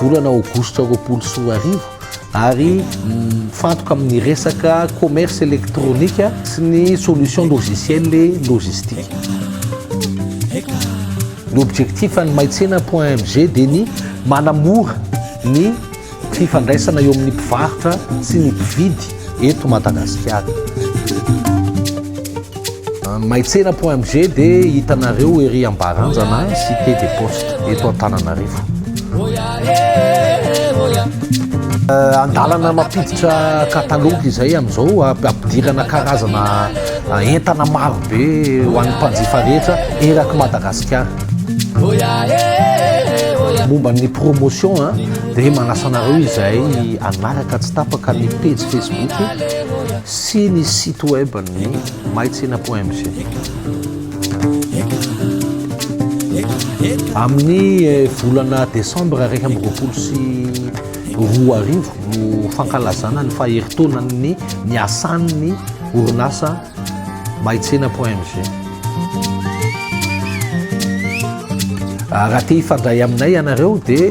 Volana aogositra roapolo sy roa arivo ary mifantoka amin'ny resaka commerce électronique sy ny solution logicielle et logistique. Ny objectif an'ny maitsena.mg dia ny manamora ny fifandraisana eo amin'ny mpivarotra sy ny mpividy eto Madagasikara. Maitsena.mg dia hitanareo ery Ambaranjana cité des postes eto Antananarivo. Andalana mampiditra katalôgy izay amin'izao ampidirana karazana entana marobe ho an'ny mpanjifa rehetra eraky Madagasikara. Momba ny promotion dia manasa anareo izay hanaraka tsy tapaka ny pejy Facebook Sy ny site web ny maitsena point mg. Amin'ny volana desambra iraika amby roapolo sy roa arivo no fankalazana ny faherintaonan'ny niasan'ny orinasa maitsena point mg. Ah, raha te hifandray aminay ianareo dia